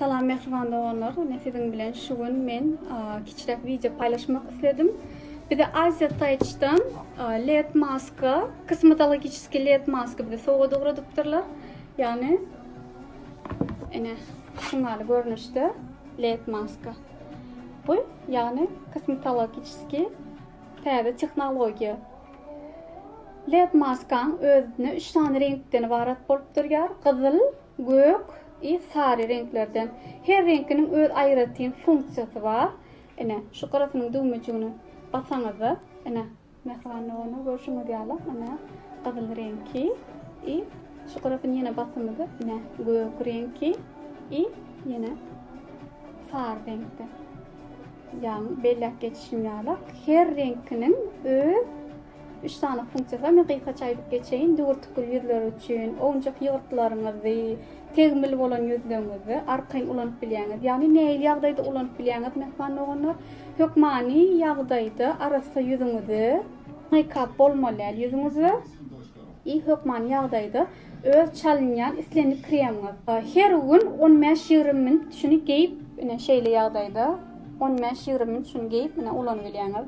Salam mähriban doganlar. Ine siziň bilen şu gün men kiçiräk wideo paýlaşmak isledim. Bize Aziýa Taýçdan LED maska, kosmetologiçeski LED maska bize sowgat ugradypdyrlar. Ýagny ine şu maly görnüşde LED maska. Bu ýagny kosmetologiçeski täze tehnologiýa. LED maskaň özüne 3 sany reňkden ibarat bolup durýar. Gyzyl, gök, i sary reňklerden. Her reňkiniň öz aýratyn funksiýasy bar. Ine, şu gyrasynyň düwmejigini basaňyzda, ine, mähriban dogana görşüňiz ýaly, ine, gyzyl reňki, i şu gyrasyny ýene basamyzda, ine, gök reňki, i ýene sary reňkde. Ýagny belläp geçişim ýaly, her reňkiniň öz Üç sany funksiýasy bar. Men gysgaça aýdyp geçeýin. Düwürtikgül ýüzler üçin owunjak ýygyrtlaryňyzy, tegmil bolan ýüzleňňizi arkaýyn ulanyp bilýäňiz. Ýagny nähili ýagdaýda ulanyp bilýäňiz mähriban doganlar? Hökmany ýagdaýda arassa ýüzüňizi, meýkap bolmaly däl ýüzüňize i hökmany ýagdaýda öz çalynýan islendik kremiňiz. Her gün on bäş ýigrimi minut şuny geýip, ine şeýle ýagdaýda on bäş ýigrimi minut şuny geýip, ine ulanyp bilýäňiz.